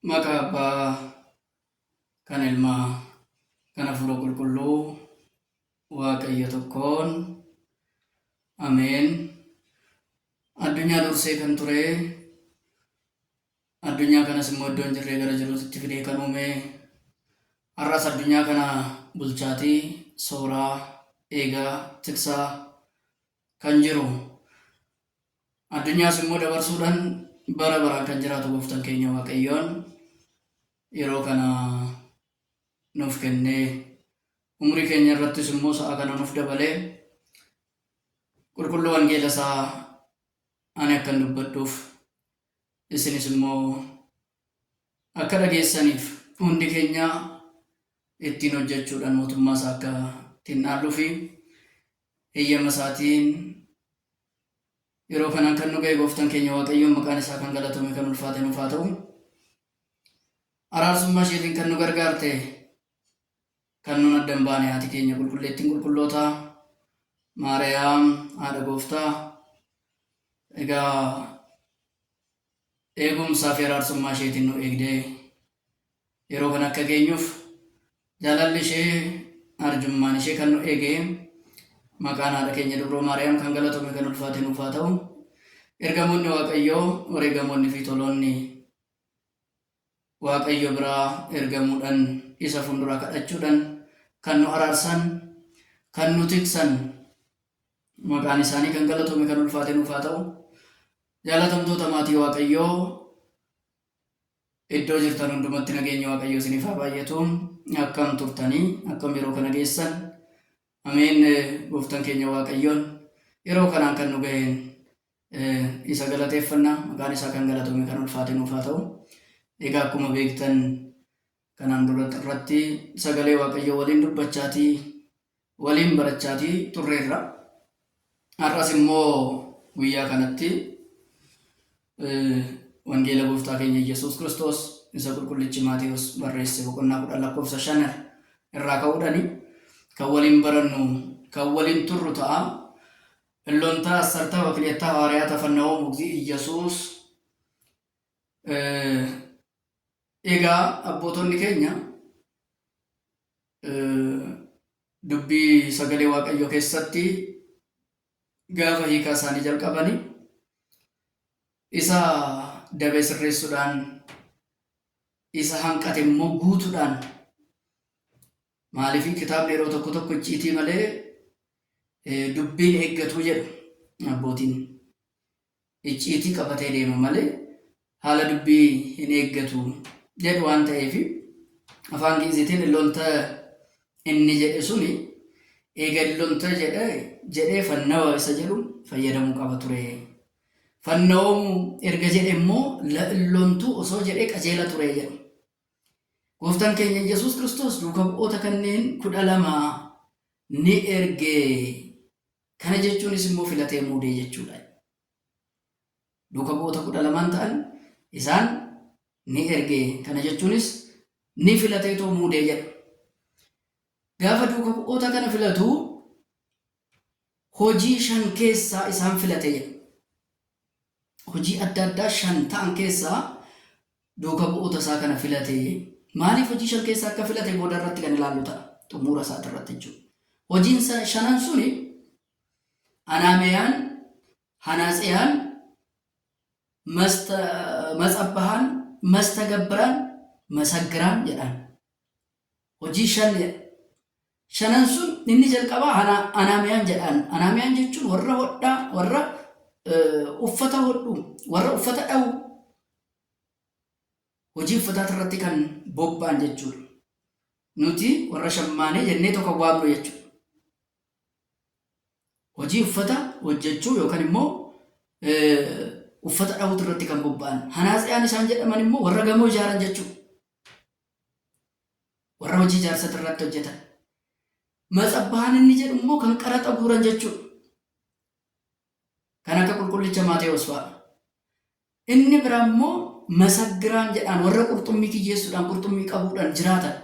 Maqaa Abbaa, kan Ilmaa, kan Hafuura Qulqulluu, Waaqayyo tokkoon. Ameen. Addunyaa dursee kan ture, addunyaa kanas immoo iddoo hin jirree gara jiruutti fidee kan uume, har'as addunyaa kana bulchaatii, sooraa, eegaa, tiksaa, kan jiru, addunyaas immoo dabarsuudhaan bara baraan kan jiraatu gooftan keenya Waaqayyoon yeroo kana nuuf kennee umrii keenya irrattis immoo sa'a kana nuuf dabalee qulqulluu wangeela isaa ani akkan dubbadhuuf isinis immoo Akka dhageessaniif hundi keenya ittiin hojjechuudhaan mootummaa isaa akka ittiin dhaalluu fi heyyama isaatiin yeroo kanaan kan nu ga'e gooftaan keenya Waaqayyoon maqaan isaa kan galatame kan ulfaate nuuf haa ta'u. Araarsummaa isheetiin kan nu gargaarte Kan nuun adda hin baane haati keenya Qulqulleettiin Qulqullootaa Maariyaam haadha Gooftaa egaa eegumsaa fi araarsummaa isheetiin nu eegdee yeroo kan akka geenyuuf jaalalli ishee arjummaan ishee kan nu eege maqaan haadha keenya dubroo Maariyaam kan galatoomi kan ulfaate nuuf haa ta'u. Ergamoonni Waaqayyoo wareegamoonni fi toloonni Waaqayyo biraa ergamuudhan isa fundura kadhachuudhan kan nu araarsan kan nu tiksan maqaan isaanii kan galatome kan ulfaate nuuf haa ta'u. Jaalatamtoota maatii Waaqayyoo iddoo jirtan hundumatti nageenyi Waaqayyoo isiniif haa baay'atu. Akkam turtanii akkam yeroo kana geessan ameen gooftan keenya Waaqayyoon yeroo kanaan kan nu ga'een Isa galateeffanna. Maqaan isaa kan galatome kan ulfaate nuuf haa ta'u. Egaa akkuma beektan kanaan dura irratti sagalee Waaqayyoo waliin dubbachaatii waliin barachaatii turreerra. Har'as immoo guyyaa kanatti wangeela gooftaa keenya Yesuus Kiristoos isa qulqullichi Maatewos barreesse boqonnaa kudhan lakkoofsa shan irraa ka'uudhani kan waliin barannu kan waliin turru ta'a. Hellontaa Assartaa Wakiliyattaa Hawaariyaata Fannawoo Mugzii Iyyasuus Egaa abbootonni keenya dubbii sagalee waaqayyoo keessatti gaafa hiikaa isaanii jalqabani isa dabee sirreessuudhaan isa hanqate immoo guutuudhaan Maaliif kitaabni yeroo tokko tokko icciitii malee dubbiin eeggatuu jedhu abbootiin. Icciitii qabatee deema malee haala dubbii hin eeggatu jedhu waan ta'eef afaan Gi'iziitiin illonta inni jedhe suni eega illonta jedhe jedhee fannawa isa jedhu fayyadamuu qaba ture. Fannawoomu erga jedhe immoo illontuu osoo jedhee qajeela ture jedhu. Gooftaan keenya Yesuus Kiristoos duuka bu'oota kanneen kudha lama ni erge. Kana jechuunis immoo filatee muudee jechuudha. Duuka bu'oota kudha lamaan ta'an isaan ni erge. Kana jechuunis ni filatee too muudee jedha. Gaafa duuka bu'oota kana filatu hojii shan keessaa isaan filate jedha. hojii adda addaa shan ta'an keessaa duuka bu'oota isaa kana filate. Maaliif hojii shan keessaa akka filate booda irratti kan ilaallu ta'a. Xummuura isaati irratti jechuudha. Hojiin sa- shanan suni Anaameyaan, Hanaaseyaan, Masta- Matsabbahaan, Mastagabbiraan, Masaggiraan jedhaan. Hojii shan jedha. Shanan sun inni jalqabaa ana, anaamiyaan jedhaan. Anaamiyaan jechuun warra hodhaa, warra eh, uffata hodhu, warra uffata dhawu, hojii uffataa irratti kan bobba'an jechuudha. Nuti warra shammaanee jennee tokko waamnu jechuudha. Hojii uffata hojjechuu yookaan immoo eh, uffata dhawutu irratti kan bobba'an. Hanaasiyaan isaan jedhaman immoo warra gamoo ijaaran jechuudha. Warra hojii ijaarsati irratti hojjetan. Matsabbahan inni jedhu immoo kan qaraxa guuran jechuudha. Kan akka qulqullicha Maatewoos fa'a. Inni bira immoo masaggiraan jedhaan warra qurxummii kiyyeessuudhaan qurxummii qabuudhaan jiraatan.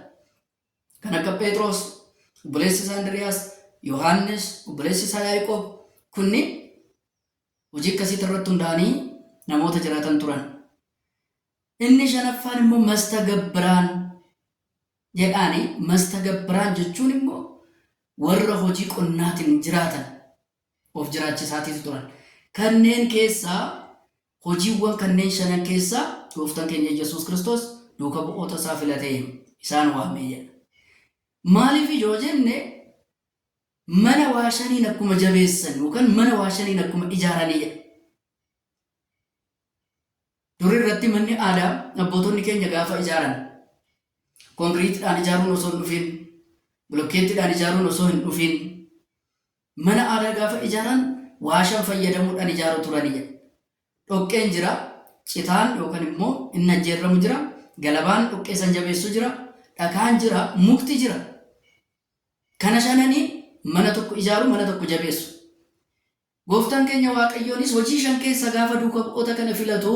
Kan akka Pheexroos, obboleessi isaa Indiriyaas, Yohaannis, obboleessi isaa Yaaqoob kunniin hojii akkasiitti irratti hundaa'anii namoota jiraatan turan. Inni shanaffaan immoo mastagabbiraan jedhaani. Mastagabbiraan jechuun immoo warra hojii qonnaatiin jiraatan of jiraachisaatiitu turan. Kanneen keessaa hojiiwwan kanneen shanan keessaa gooftaan keenya Yesuus Kiristoos duuka bu'oota isaa filatee isaan waamee jedha. Maaliif yoo jenne mana waa shaniin akkuma jabeessan yookaan mana waa shaniin akkuma ijaaranii jedha. Dur irratti manni aadaa abbootonni keenya gaafa ijaaran konkiriitidhaan ijaaruun osoo hin dhufiin, bilokkeettidhaan ijaaruun osoo hin dhufiin mana aadaa gaafa ijaaran waashan fayyadamuudhaan ijaaru turani jedha. Dhoqqeen jira, citaan yookaan immoo inni ajjeerramu jira, galabaan dhoqqee san jabeessu jira, dhakaan jira, mukti jira. Kana shananiin mana tokko ijaaru, mana tokko jabeessu. Gooftaan keenya Waaqayyoonis Hojii 5 keessaa gaafa duuka bu'oota kana filatu,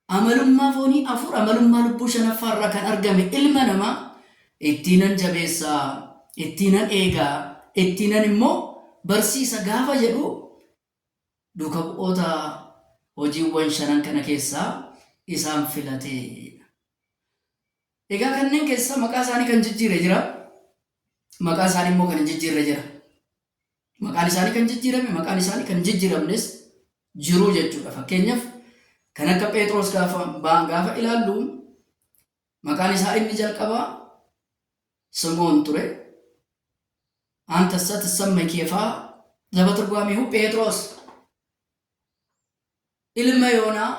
amalummaa foonii 4, amalummaa lubbuu 5ffaa irraa kan argame ilma namaa ittiinan jabeessa, ittiinan eega, ittiinan immoo barsiisa gaafa jedhu duuka bu'oota hojiiwwan shanan kana keessaa isaan filate. Egaa kanneen keessaa maqaa isaanii kan jijjiire jira, maqaa isaanii immoo kan hin jijjiirre jira. Maqaan isaanii kan jijjiirame, maqaan isaanii kan jijjiiramnes jiru jechuudha. Fakkeenyaaf kan akka Pheexroos gaafa ba'an gaafa ilaallu maqaan isaa inni jalqabaa Simoon ture. Anta sat samma keefaa zaba turgwaamihu Pheexroos ilma Yoonaa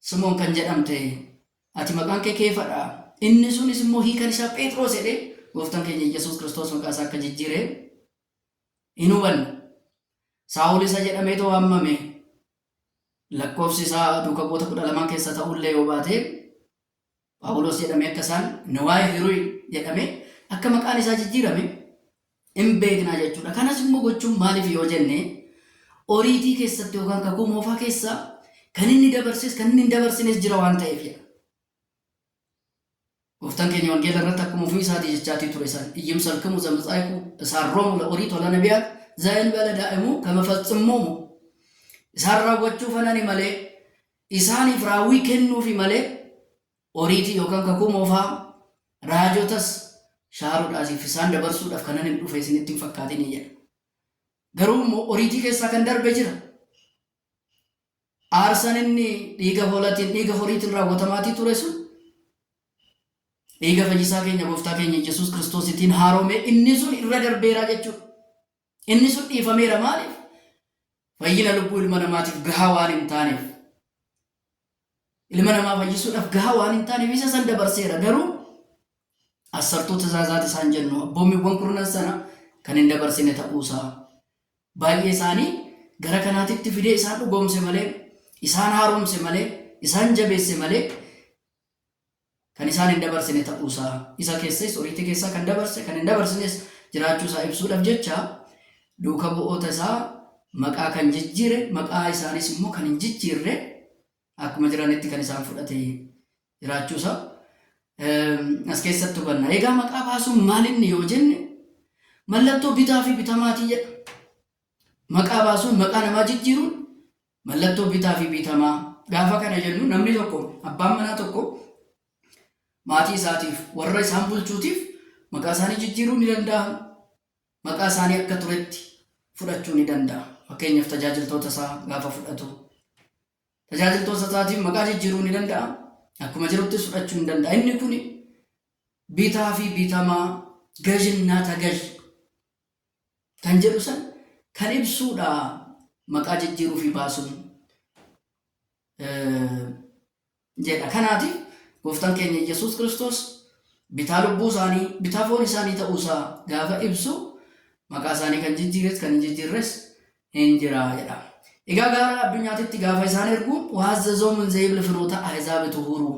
Simoon kan jedhamte ati maqaan kee Keefa dha. Inni sunis immoo hiikan isaa Phexros jedhee gooftaan keenya Iyyasuus Kiristoos maqaa isaa akka jijjiire hin hubanne. Saa'ol isa jedhameetu waamame. Lakkoofsi isaa duuka bu'oota kudha lamaan keessa ta'ullee yoo baate Phaawulos jedhamee akka isaan Newaaye Hiruy jedhamee akka maqaan isaa jijjiirame in beekna jechuu dha. Kanas immoo gochuun maaliif yoo jenne Oriitii keessatti yookaan kakuu moofaa keessa kan inni dabarses kan inni hin dabarsines jira waan ta'eef jedha. Gooftaan keenya wangeela irratti akkuma ofii isaatii jechaatii ture isaan iyyim salkimu zamtsaayiku isaan roomu la orii tola nabiyaat zaayil bala daa'imu kama faxximmuumu isaan raawwachuu fanani malee isaaniif raawwii kennuufi malee Oriitii yookaan Kakuu Moofaa, raajotas shaaruudhaasiif isaan dabarsuudhaaf kananin dhufe isinitti hin fakkaatinii jedha. Garuu immoo Oriitii keessaa kan darbe jira. Aarsan inni dhiiga hoolatiin, dhiiga horiitiin raawwatamaatii ture sun dhiiga fayyisaa keenya gooftaa keenya Yesuus Kiristoositiin haaromee inni sun irra darbeeraa jechuudha. Inni sun dhiifameera maaliif? Fayyina lubbuu ilma namaatiif gahaa waan hin taaneef. Ilma namaa fayyisuudhaaf gahaa waan hin taaneef isa san dabarseera garuu asartuu tizaazaati isaan jennu abboommiiwwan kurnan sana kan hin dabarsine ta'uusaa baay'ee isaanii gara kanaatitti fidee isaan dhugoomse malee isaan haaromse malee isaan jabeesse malee kan isaan hin dabarsine ta'uu isaa, isa keessais oriitii keessaa kan dabarse, kan hin dabarsines jiraachuu isaa ibsuudhaf jecha duuka bu'oota isaa maqaa kan jijjiire, maqaa isaaniis immoo kan hin jijjiirre akkuma jiranitti kan isaan fudhate jiraachuu isaa as keessatti hubanna. Egaa maqaa baasuun maal inni yoo jenne mallattoo bitaa fi bitamaatii jedha. Maqaa baasuun maqaa namaa jijjiiruun Mallattoo bitaa fi bitamaa. Gaafa kana jennu namni tokko abbaan manaa tokko maatii isaatiif warra isaan bulchuutiif maqaa isaanii jijjiiruu ni danda'a. Maqaa isaanii akka turetti fudhachuu ni danda'a. Fakkeenyaaf tajaajiltoota isaa gaafa fudhatu. Tajaajiltoota isaatiif maqaa jijjiiruu ni danda'a. Akkuma jirutti fudhachuu ni danda'a. Inni kun bitaa fi bitamaa gajinaa tagaj kan jedhu san kan ibsuudha maqaa jijjiiruu fi baasuun jedha. Kanaati gooftaan keenya Yesuus Kiristoos bitaa lubbuu isaanii bitaa foon isaanii ta'uu isaa gaafa ibsu maqaa isaanii kan jijjiires kan hin jijjiirres hin jira jedha. Egaa gara addunyaatitti gaafa isaan ergu waazzazoo munzeeyibli finoota ahizaabitu huruu.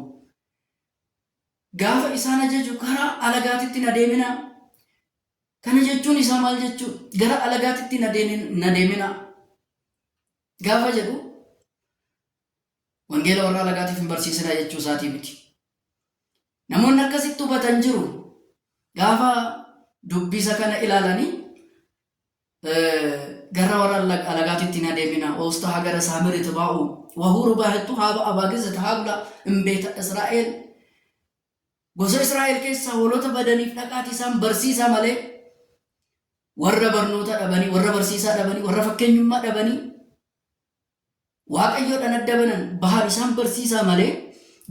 Gaafa isaan ajaju karaa alagaatitti na deemina Kana jechuun isaa maal jechuu dha? Gara alagaatitti hin adeemin- hin adeeminaa gaafa jedhu wangeela warra alagaatiif hin barsiisinaa jechuu isaatii miti. Namoonni akkasitti hubatan jiru. Gaafa dubbisa kana ilaalanii eh, gara warra ala- alagaatitti hin adeeminaa oosta hagara saamiri tibaa'u wahuuru baahettu haaba abaagisa tahaabla imbeeta Israa'el Gosa Israa'el keessaa hoolota badaniif dhaqaatii isaan barsiisaa malee warra barnoota dhabanii, warra barsiisaa dhabanii, warra fakkeenyummaa dhabanii Waaqayyoodhaan adda banan bahan isaan barsiisaa malee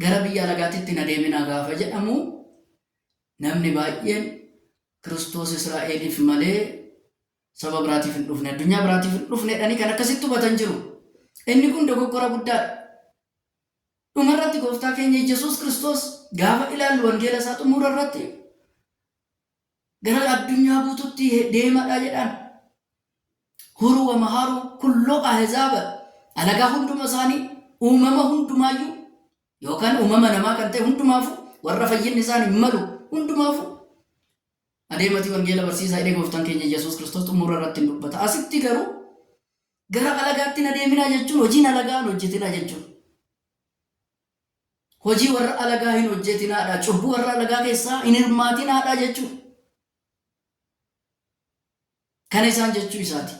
gara biyya alagaatitti hin adeeminaa gaafa jedhamu namni baay'een Kiristoos Israa'eliif malee saba biraatiif hin dhufne, addunyaa biraatiif hin dhufne jedhanii kan akkasitti hubatan jiru. Inni kun dogoggora guddaadha. Dhuma irratti Gooftaa keenya Iyyesuus Kiristoos gaafa ilaallu wangeela isaa xumura irratti gara addunyaa guututti deemadha jedhaan. Huru wa maharu kullo ahzaaba alagaa hunduma isaanii uumama hundumaayyuu yookaan uumama namaa kan ta'e hundumaafu warra fayyinni isaan hin malu hundumaafu adeematii wangeela barsiisaa jedhee gooftaan keenya Iyyesuus Kiristoos xumura irratti hin dubbata. Asitti garuu Gara alagaatti hin adeeminaa jechuun hojiin alagaa hin hojjetinaa jechuudha. Hojii warra alagaa hin hojjetinaadha, cubbuu warra alagaa keessaa hin hirmaatinaadha jechuudha. Kana isaan jechuu isaati.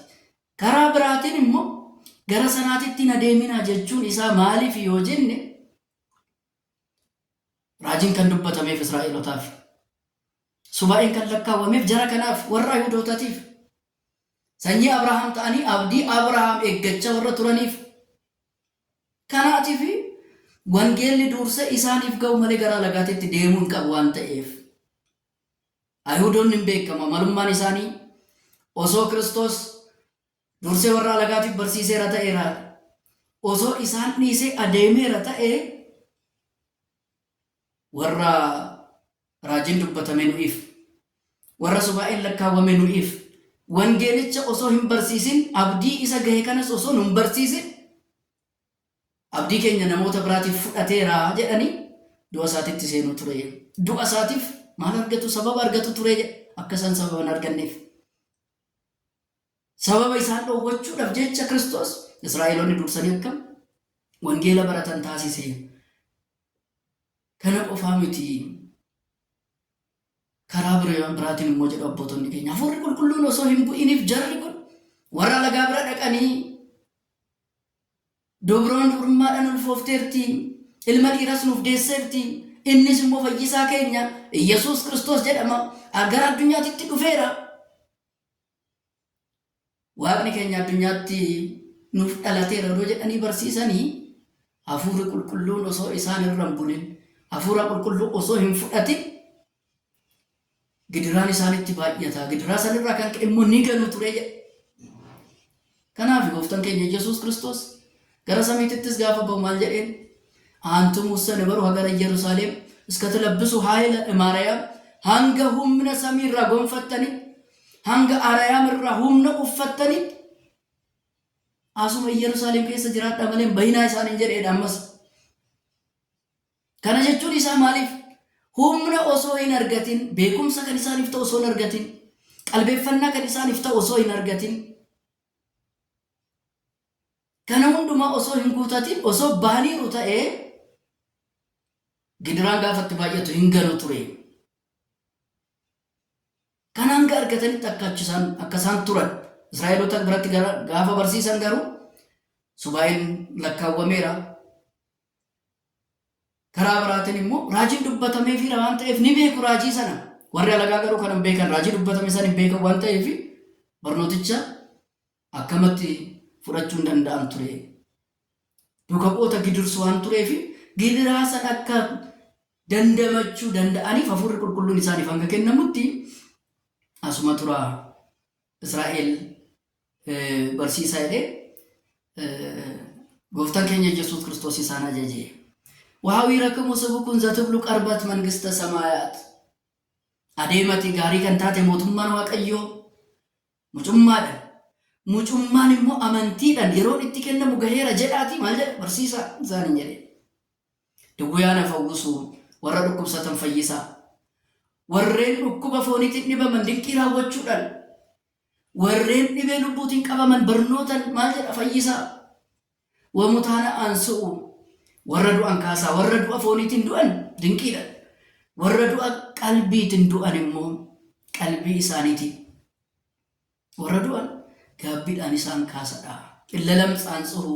Karaa biraatiin immoo gara sanaatitti hin adeeminaa jechuun isaa maaliif yoo jenne Raajiin kan dubbatameef Israa'elotaaf. Subaa'een kan lakkaawwameef jara kanaaf warra Yihudootatiif. Sanyii Abrahaam ta'anii abdii Abrahaam eeggachaa warra turaniif. Kanaatiif wangeelli duursee isaaniif ga'u malee gara alagaatitti deemuu hin qabu waan ta'eef. Ayihudoonni hin beekama malummaan isaanii osoo Kiristoos Dursee warra alagaatiif barsiiseera ta'ee laata? Osoo isaan dhiisee adeemeera ta'ee warra raajiin dubbatame nu'iif, warra subaa'een lakkaawwame nu'iif, wangeelicha osoo hin barsiisin, abdii isa gahe kanas osoo nu hin barsiisin, abdii keenya namoota biraatiif fudhateera jedhanii du'a isaatitti seenuu ture. Du'a isaatiif maal argatu? Sababa argatu ture jedha. Akka isaan sababa hin arganneef. Sababa isaan dhowwachuudhaaf jecha Kiristoos Israa'eloonni dursanii akka wangeela baratan taasiseera. Kana qofaa miti. Karaa bira- biraatiin immoo jedhu abbootonni keenya hafuurri qulqulluun osoo hin bu'iniif jarri kun warra alagaa bira dhaqanii Dubraan dubrummaadhaan ulfoofteerti. Ilma dhiiras nuuf deesseerti. Innis immoo fayyisaa keenya Yesuus Kiristoos jedhama. Gara addunyaatitti dhufeera. Waaqni keenya addunyaatti nuuf dhalateera odoo jedhanii barsiisanii hafuurri qulqulluun osoo isaan irra hin bunin hafuura qulqulluu osoo hin fudhatin gidiraan isaanitti baay'ata. Gidiraa sanirraa kan ka'e immoo ni ganu ture jedha. Kanaafi Gooftan keenya Yesuus Kiristoos gara samiitittis gaafa ba'u maal jedheen? Aantum ussani baru hagara Iyyerusaalem iska tilabbisu haayila imaarayaam hanga humna samii irraa gonfattani hanga arayaam irraa humna uffattani asuma Iyyerusaalem keessa jiraadhaa malee hin bahinaa isaaniin jedheedha ammas. Kana jechuun isaa maaliif? Humna osoo hin argatin, beekumsa kan isaaniif ta'u osoo hin argatin, qalbeeffannaa kan isaaniif ta'u osoo hin argatin, kana hundumaa osoo hin guutatin, osoo bahaniiru ta'ee gidiraan gaafa itti baay'atu hin galu ture. Kana hanga argatanitti akka achi isaan akka isaan turan Israa'eloota biratti gara- gaafa barsiisan garuu subaa'een lakkaawwameera. Karaa biraatiin immoo raajiin dubbatameefiira waan ta'eef ni beeku raajii sana. Warri alagaa garuu kan hin beekan raajii dubbatame sana hin beekan waan ta'eef barnooticha akkamatti fudhachuu hin danda'an ture. Duuka bu'oota gidirsu waan tureef gidiraa sana akka dandamachuu danda'aniif hafuurri qulqulluun isaaniif hanga kennamutti asuma turaa. Israa'el barsiisaa jedhee gooftaan keenya Yesuus Kiristoos isaan ajajee. Waawii rakkamu sabu kun zatublu qarbat mangista samaayaat. Adeemati gaarii kan taate mootummaan Waaqayyoo mucummaadha. Mucummaan immoo amantiidhaan yeroon itti kennamu gaheera jedhaati maal jedha barsiisaa isaaniin jedhe. Dwyaa na fawwusu, warra dhukkubsatan fayyisa. Warreen dhukkuba fooniitiin dhibaman dinqii raawwachuudhaan, warreen dhibee lubbuutiin qabaman barnootan maal jedha fayyisa. Wamutaana aansu'u, warra du'an kaasaa, warra du'a fooniitiin du'an dinqiidhaan, warra du'a qalbiitiin du'an immoo qalbii isaaniitiin, warra du'an gaabbiidhaan isaan kaasadha. Illalam tsaantsuhu.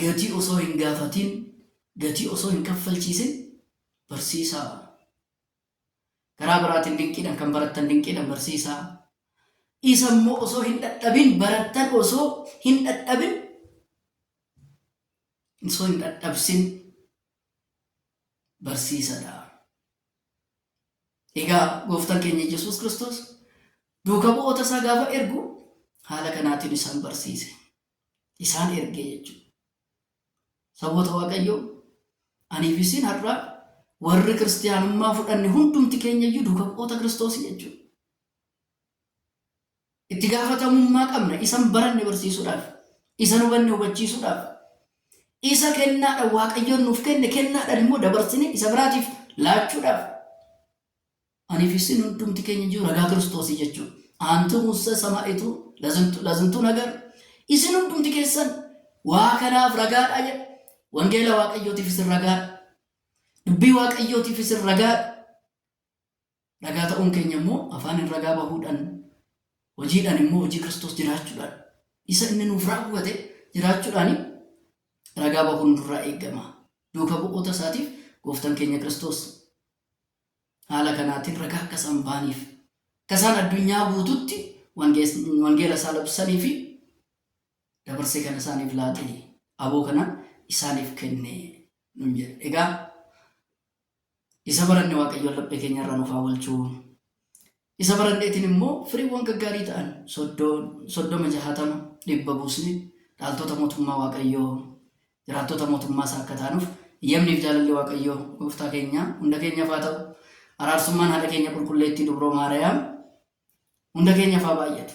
Gatii osoo hin gaafatiin, gatii osoo hin kaffalchiisin barsiisaa. Karaa biraatiin dinqiidhaan kan barattan dinqiidhaan barsiisaa. Isa immoo osoo hin dhadhabin barattan osoo hin dhadhabin osoo hin dhadhabsin barsiisadha. Egaa gooftaan keenya Yesuus Kiristoos duuka bu'oota isaa gaafa ergu haala kanaatiin isaan barsiise. isaan erge jechuudha. Saboota Waaqayyoo anii fi isin har'a warri kiristiyaanummaa fudhanne hundumti keenya iyyuu duuka bu'oota Kiristoosii jechuudha. Itti gaafatamummaa qabna isan baranne barsiisuudhaaf, isan hubanne hubachiisuudhaaf, isa kennaadha Waaqayyoon nuuf kenne kennaadhaan immoo dabarsine isa biraatiif laachuudhaaf Anii fi isin hundumti keenya iyyuu ragaa Kiristoosii jechuun aantuu muussee samaa'ituu lazintu- lazintuu nagar isin hundumti keessan waa kanaaf ragaadha jedha. Wangeela Waaqayyootiif isin ragaadha. Dubbii Waaqayyootiif isin ragaadha. Ragaa ta'uun keenya immoo afaaniin ragaa bahuudhaan hojiidhaan immoo hojii Kiristoos jiraachuudhaan isa inni nuuf raawwate jiraachuudhaan ragaa bahuun nurraa eegama. Duuka bu'oota isaatiif gooftaan keenya Kiristoos Haala kanaatiin ragaa akka isaan ba'aniif, akka isaan addunyaa guututti wangeela isaa labsanii fi dabarsee kan isaaniif laate aboo kana isaaniif kenne nun jedhe. Egaa isa baranne Waaqayyoon laphee keenya irraa nuuf haa oolchuu. Isa baranneetiin immoo firiiwwan gaggaarii ta'an soddoma, jahatama, dhibba buusnee dhaaltota mootummaa Waaqayyoo, jiraattota mootummaa isaa akka taanuuf eyyamnii fi jaalalli Waaqayyoo gooftaa keenyaa hunda keenyaaf haa ta'u. Araarsummaan haadha keenya qulqulleettii dubroo Maariyaam hunda keenyaaf haa baay'atu.